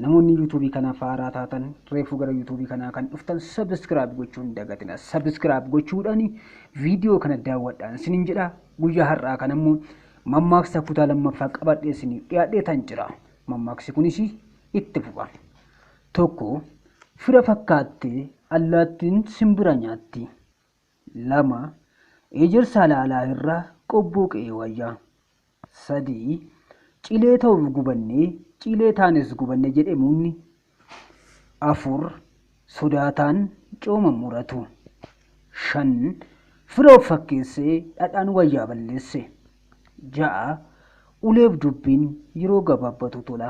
Namoonni yuutuubii kanaaf haaraa taatan reefuu gara yuutuubii kanaa kan dhuftan sabiskiraayib gochuun dagatina. Sabiskiraayib gochuudhaan viidiyoo kana daawwadhaan isiniin jedha. Guyyaa har'aa kan ammoo mammaaksa kutaa lammaffaa qabadhee isiniif dhiyaadhee tan jira. Mammaaksi kunis itti fufa. 1, Fira fakkaattee allaattiin simbira nyaatti. 2, Ejersaa laalaa irra qobboo qe'ee wayya. 3, Cilee ta'uuf gubannee, cilee taanes gubanne jedhe mukni. 4, Sodaataan cooma hin muratu. 5, Fira of fakkeessee dhadhaan wayyaa balleesse. 6, Uleef dubbiin yeroo gabaabbatu tola.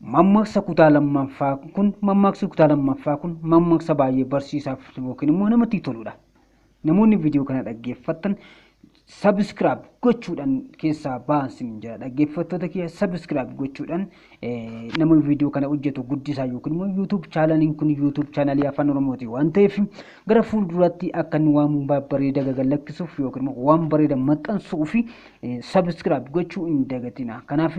Mammaksa kutaa lammaffaa kun mammaksi kutaa lammaffaa kun mammaksa baay'ee barsiisaaf yookiin immoo namatti toludha. Namoonni viidiyoo kana dhaggeeffattan sabiskiraab gochuudhaan keessaa ba'an sin jedha. Dhaggeeffattoota kiyya sabiskiraab gochuudhaan nama viidiyoo kana hojjetu guddisaa yookiin immoo yuutuub chaanaliin kun yuutuub chaanalii afaan oromooti waan ta'eef gara fuulduraatti akka inni waan bareeda gagallakkisuuf yookiin immoo waan bareeda maxxansuu fi sabiskiraab gochuu hin dagatina. Kanaaf